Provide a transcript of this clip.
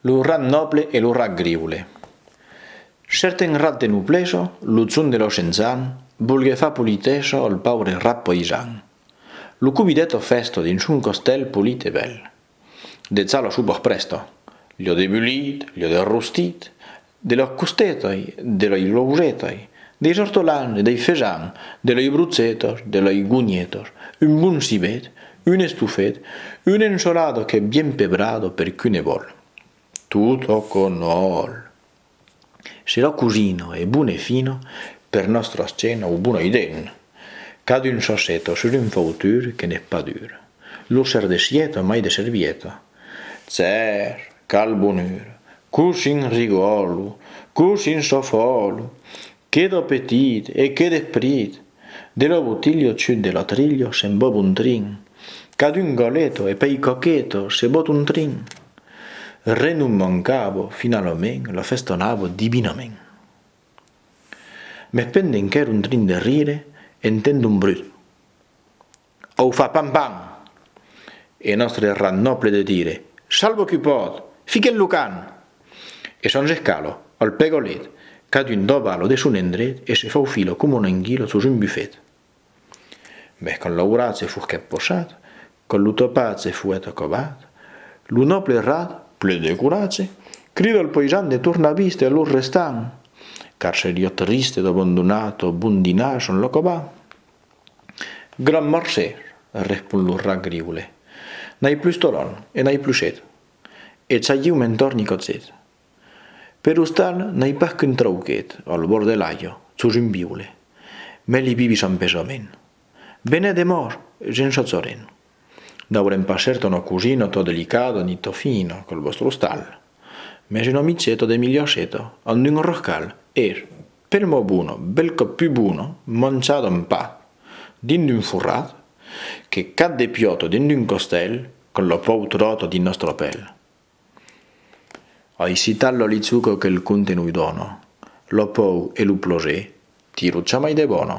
Lo rat nòble e lo rat griule. Cèrten rat de nobleja, lo zon de l'Oxenzan, volguèt far politeja al paure rat paisan. Lo convidèt a fèsta dins son castèl polit e bèl. Dejà la sopa prèsta, l'ia debulit, l'ia derrostit, de lei costetas, de lei lousetas, deis ortolans, dei fejans, de lei brotzetas, de lei gonhetas, un bon cibet, un estofet, una ensolada qu'es bien pebrada per qui ne vòl. Tot o que no òl. Se la cosina es bona e fina, per nòstra escena o bona idèn. Cadun s'asseta sus un fautur que n'es pas dur. Lo ser de sieta mai de servieta. Tser! Qual bonheur! Cosin rigòlo! Cosin sofòlo! Que d'apetit e que d'esprit! De lo botilho chut de l'atrilho se'n bòb un trin. Qu'a d'un goleto e pei coqueto se bòt un trin. Re non mancabo, finalament lo festonabo divinament. Mès pendent qu'èr un trin de rire, entend un brut. Au fa pan pan! E nòstre rat nòble de dire, Shalbo que pòt! Fique'l lo can! E shonge Calo, al pegolet, cadun doba lo de son endret e se faufila coma un anguilot sus un bufet. Mès quand l'aurat se furquèt pochat, quand lo topat se fuèt acobat, lo nòble rat, plen de coratge, crida al poijan de tornar vist e a los restants, car seriá triste d'abandonat au bon dinar son lo cobat. Gran marcé, respon lo rat griulet. N'ai plus toron e n'ai plus sed. E Chagiu me'n torni cotzet. Per ostal n'ai pas qu'un trauquet al bord de l'Ajo, sus un biule. Mès li bibi s'an pesament. Benè de mòr, gent Chachoren. N'aurem pas cèrt una cosina tot delicada ni tot fina qu'al vòstre ostal. Mès un omicheta de milhaseta amb d'un roscal, er! Pel mot bono, bel còp pus bono, manchada un pa, dins d'un forrat, que cat de piòto dins d'un costèl, con lo pòu tròto dins nòstra pèl. Ai citat lo lichuco que el conte noi dòno, lo pòu e lo plosé, tiro chamai de bòno.